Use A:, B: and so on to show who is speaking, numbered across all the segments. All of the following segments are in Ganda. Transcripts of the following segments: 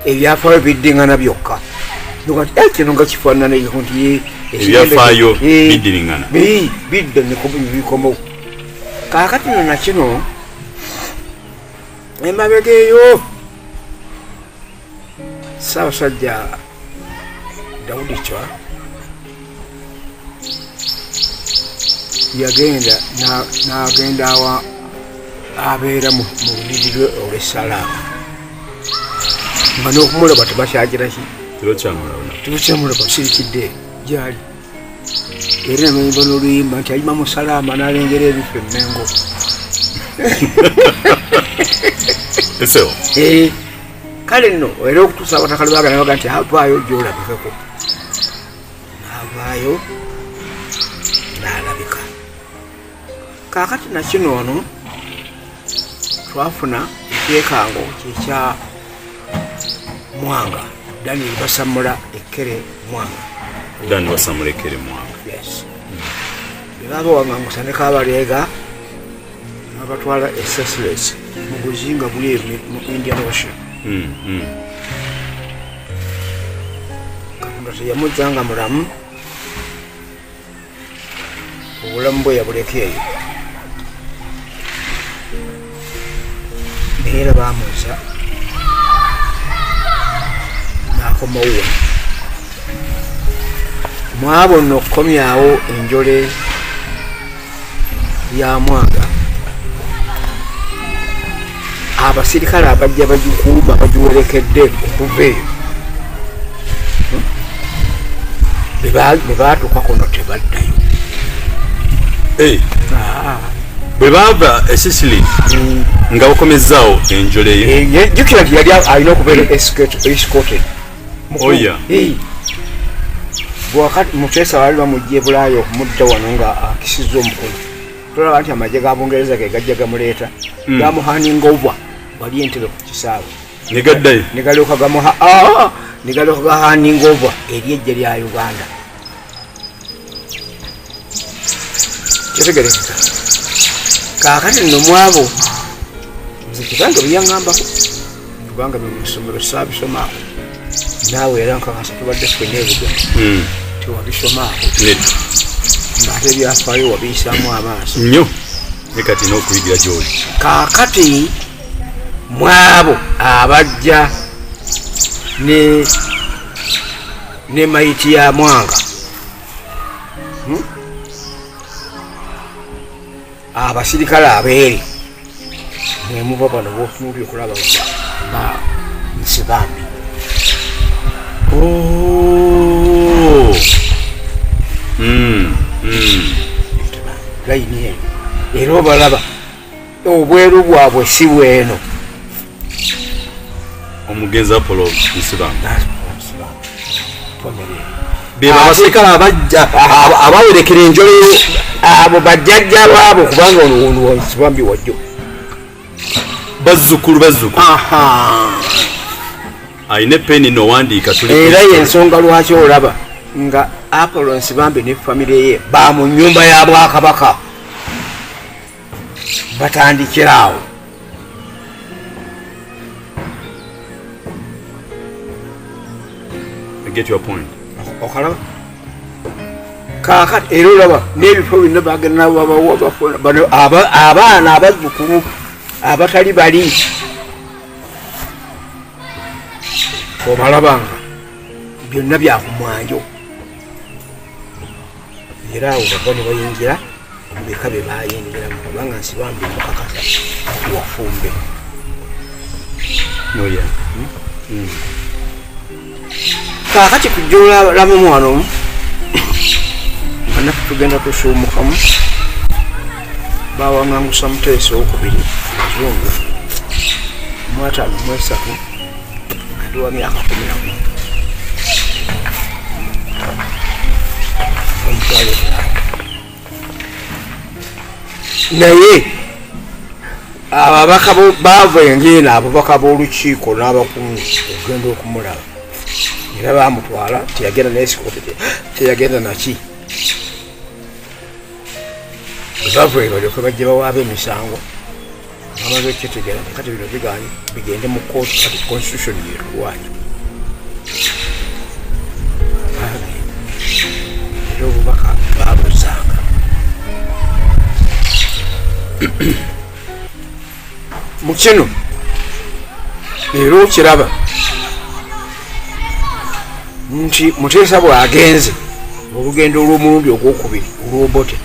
A: ebyafaayo biddingana byokka eh, kino nga kifaanana nti ebyafaayo
B: eh, biddingana
A: bidda bikomawo kaakati no nakino emabega eyo ssaabasajja dawudi cwa yagenda n'agenda awa abeera mu lubiri lwe olwessalaamu nga n'okumulaba tebakyagiraki tebakyamulaba sirikidde gyali era noluyimba noluyimba nti ayima musalaama nalengera ebifa emengo eseo eh, kale nno era okutuusa abatakali bagana baga nti avaayo gyolabikeko navaayo kaakati nakino ono twafuna ekyekango kyekya mwanga dani basamula ekkere mwanga dani basamula ekkere mwanga bebaba wangangusaneko abaleega abatwala esesules mu buzinga buli mu indian ocean hmm, hmm. katonda teyamuzanga mulamu obulamu bwe yabuleka eyo naye era bamuza nakomauwa mwabo nno okukomyawo enjole ya mwanga abasirikale abajja bagikuuma bagiwerekedde okuva eyo bwe baatuka kuno tebaddayo eh. ah.
B: bwe baava esisili mm. nga bakomezzaawo enjole eh, jukira nti yali alina
A: okubeera escoted oya oh, eh. bwakati muteesa baali bamujja ebulaayo okumudda wano nga akisizza omukulu tolaba nti amagye ga bungereza ge gajja gamuleeta hmm. gamuhaninga obwa wali entebe ku kisaawe negaddayo
B: negalyoka gamuha
A: ah! negalyoka gahaninga obwa eri ejje lya uganda kitegerekeka kakati nomwabo nze kibange byeyaŋambako kubanga bino mu ssomero saabisomako naawe era nkakasa tubadde fena ebigono hmm. tewabisomako ngaate ebyafaayo wabiyisaamu amaaso nyo
B: ne kati n'okuyigira gyoli kaakati
A: mwabo abajja ne ne mayiti ya mwanga hmm? abasirikale abeeri mwemuva bano botunuli okulaba ba nsi bambi oh. hmm, hmm. layini eno era obalaba obweru bwabwe si bweno
B: omugenzi apolo musiraamu
A: bebabaserikale abajja abawerekera enjole abo bajjajja baabo kubanga onowonuwonsibambi wajjo bazzukulu
B: bazzukulu alina epeni nowandiika era yensonga
A: lwaki olaba nga apollo nsibambi ne famire ye ba mu nyumba ya bwakabaka batandikira awo
B: get your point okalaba
A: kakati era olaba n'ebifo byonna bagenda nababawabafbano abaana abazzukulu abatali bali obalabanga byonna byakumwanjo era awo bava ne bayingira beka be bayingiramu kubanga nsi bambi mukakasa wafumbe noya hmm? hmm. kakati kujjolalamu mwana omu anaku tugenda tusuumukamu bawangangusa muteesa okubiri zungu mwatano mwesatu naye ababaka baava engeeno ababaka b'olukiiko n'abakungu okugenda okumulaba era bamutwala teyagenda nayesikoti teyagenda naki bava ebalyoke bajja bawaaba emisango amaze okukitegeera kati bino biganye bigende mu kooti kati constitution yetuwaanya era obubaka babuzanga mu kino leero okiraba nti muteesa bwagenze olugendo olw'omulundi ogwokubiri olwobote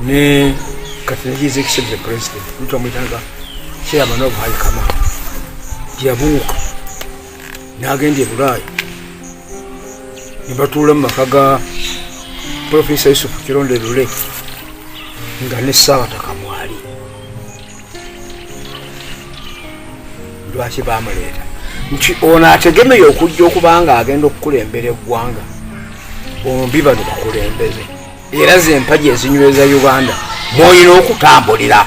A: ne katina his excellency president mtu amwitanga chairman of high command yabuuka n'agenda e bulaaya ne batuula mu maka ga profesa yusufu kironde lule nga ne ssaabatakamwa lwaki bamuleeta nti ono ategemeye okujja okuba nga agenda okukulembera eggwanga bombi bano bakulembeze era zempagi ezinyweza uganda mwolina okutambulira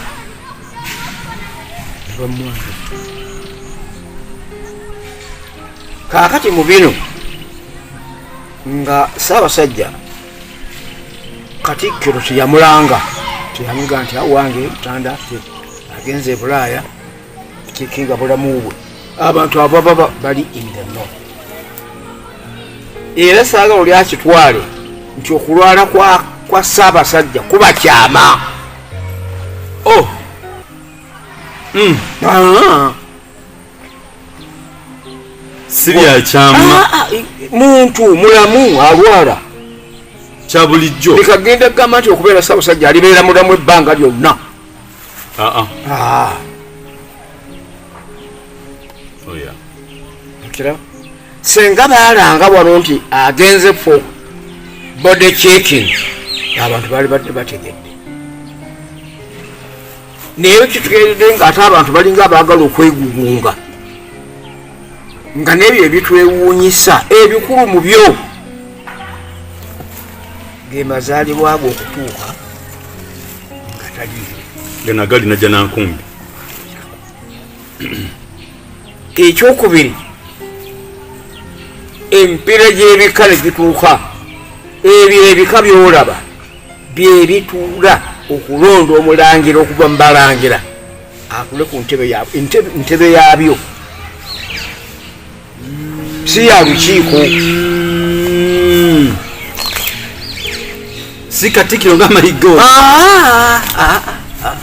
A: kakati mu bino nga saabasajja katikkiro teyamulanga teyamuga nti awange mutanda ffe agenze ebulaaya kikinga bulamu bwe abantu abababa bali indeno era saaga oli akitwale nti okulwala kwa ssaabasajja kuba kyama o oh. hmm. ah.
B: si byakyama ah, ah, muntu
A: mulamu alwala kya
B: bulijjo bikagenda kugamba nti
A: okubeera sabusajja alibeera mulamu ebbanga lyonna ah, oh, senga baalanga wano nti agenze fo body checking abantu baali badde bategedde naye kitugeredde nga ate abantu balinga abaagala okwegugunga nga nebyo ebitwewuunyisa ebikulu mu byo gemazaalibwago okutuuka nga taliyo gana gali najja
B: nankumbi
A: ekyokubiri empeera gy'ebika ne gituuka ebyo ebika byolaba byebituula okulonda omulangira okuva mu balangira atule ku ntebe yabyo si ya lukiiko
B: si katikiro nga mayigo ah, ah, ah,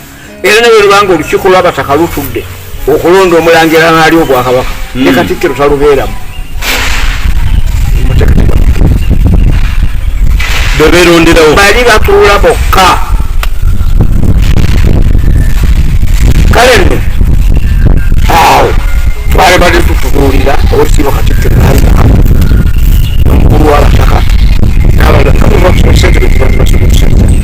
A: era nawe lubanga olukiiko lwabataka lutudde okulonda omulangira naali obwakabaka hmm. ne katikkiro talubeeramu
B: beberonderawo bali batuula
A: bokka kale nno awo twali bali tutubuulira osiiba katikkiro naaliaa omukulu wabataka nabalaa sente betubatubasubusente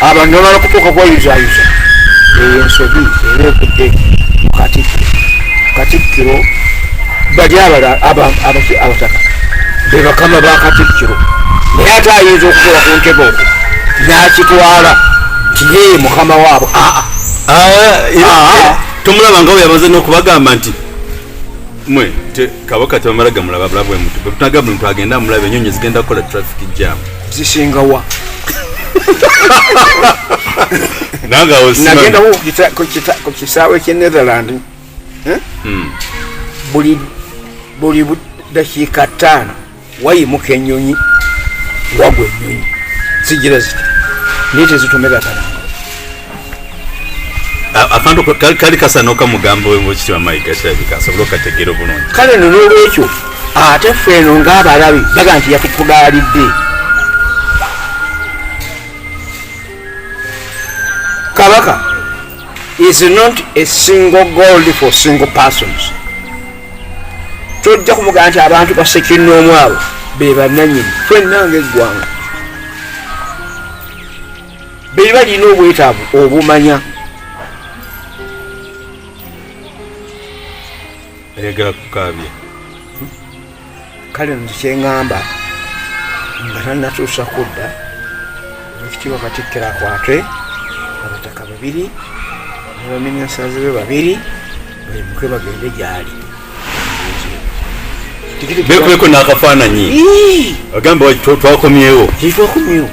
A: abantu nabala kutuuka kweyuzayuza eyo ensobi era evudde mukatikkiro katikkiro bali abala abaki abataka bebakama bakatikkiro naye ate ayinza okukola ku ntebe okwo nakitwala nti yeye mukama waabo aa aa
B: tomulaba nga weyamaze nokubagamba nti mwe kabaka tebamala gamulaba bulabuemutu bwetunagamba ntu agenda amulaba enyonyi zigenda kukola traffic jamu zisinga wa nagenda ku
A: kisaawe kye netherland eh? hmm. buli buli dakiika ttaano wayimuka ennyonyi wagwa ennyonyi zigira ziti naye tezitomera tana
B: akantu kali kasana okamugamba wemukiti wamayiga kirabika asobole okategeera obulungi kale no nolwekyo
A: ate ffe eno ngaabalabi baga nti yatutugaalidde kabaka is not a single gold for single persons tojja kumugamba nti abantu basekinoomu abo bebananyini fenna ngaeggwanga be balina obwetaavu obumanya
B: ayagala kukaabya
A: kale nze kyeŋŋamba nga tannatuusa kudda ekitiibwa katikkira kwatwe abataka babiri nebaminisaazi be babiri baimuke bagende gyali
B: bekubeko n'akafaananyi agamba twakomyewo twakomyewo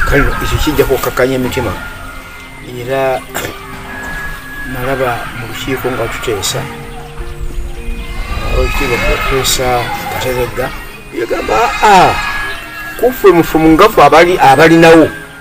A: kale ekyo kijja kukkakanya emitima era nalaba mu lukiiko nga tuteesa olutiiko tuteesa kateregga yagamba aa ah, ah, kuffe mufumu ngafu abalinawo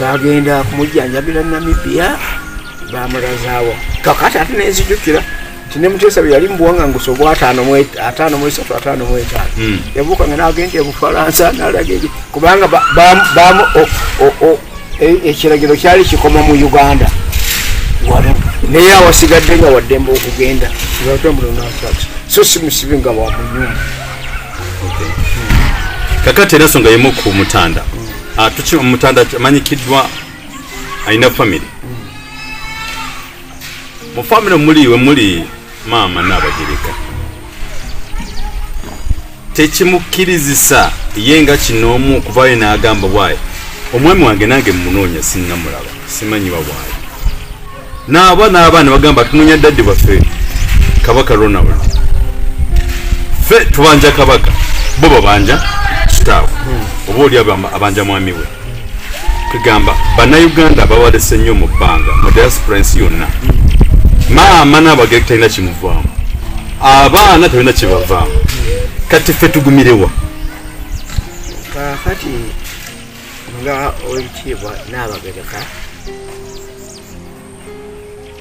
B: bagenda
A: kumujjanjabira namibia bamulazaawo kakati ate nenzijukira tinemuteesa bye yali mubuwangangusa obwa ataano mwesatu ataano mwetaano hmm. yabuukanga nagenda ebufalansa nalaga kubanga E, ekiragiro kyali kikoma mu uganda wano naye awasigadde nga waddembe okugenda so si musibi nga wa munyumba
B: kakati era songa yemu ku mutanda ah, tuki omutanda amanyikiddwa alina famiry mu famiry omuli wemuli maama naabagereka tekimukkirizisa ye nga kinoomu okuvaayo n'agamba waayi omwami wange nange mumunoonya sinnamulaba simanyiwa waayi naaba n'abaana bagamba tunoonya daddi baffe kabaka ronald fe tubanja kabaka bo babanja kitaawe oba oli abanja mwami we kugamba bannayuganda bawalese nnyo mu bbanga mu diaspora ensi yonna maama n'abagere talina kimuvaamu abaana talina kibavaamu kati ffe tugumirewa kakati
A: nga owekitiibwa n'abagereka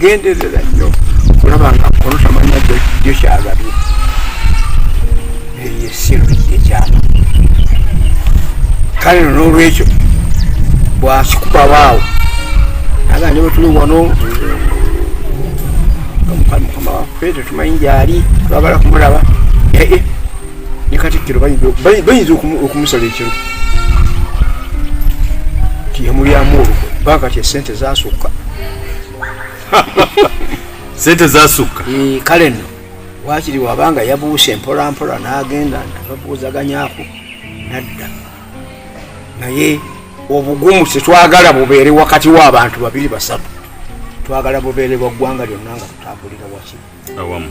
A: genderera nnyo kulaba nga kono tamanya jo kyagabye eyo esiru yekyama kale no nolwekyo bwakikubawaawo aga ne bwetuli wano mukama waffe tetumanyi ngyali twagala kumulaba ee eh, ne katikkiro bayinza okumusala ekiro tiyamulyamu olukwe bakati esente zasukka
B: sente zasukka eh, kale no
A: wakiri wabanga yabuuse mpolampola n'agenda nababuuzaganyako nadda naye obugumu tetwagala bubeere wakati w'abantu babiri basatu twagala bubeere bwa ggwanga
B: lyonna
A: nga tutambulira wakiri awamu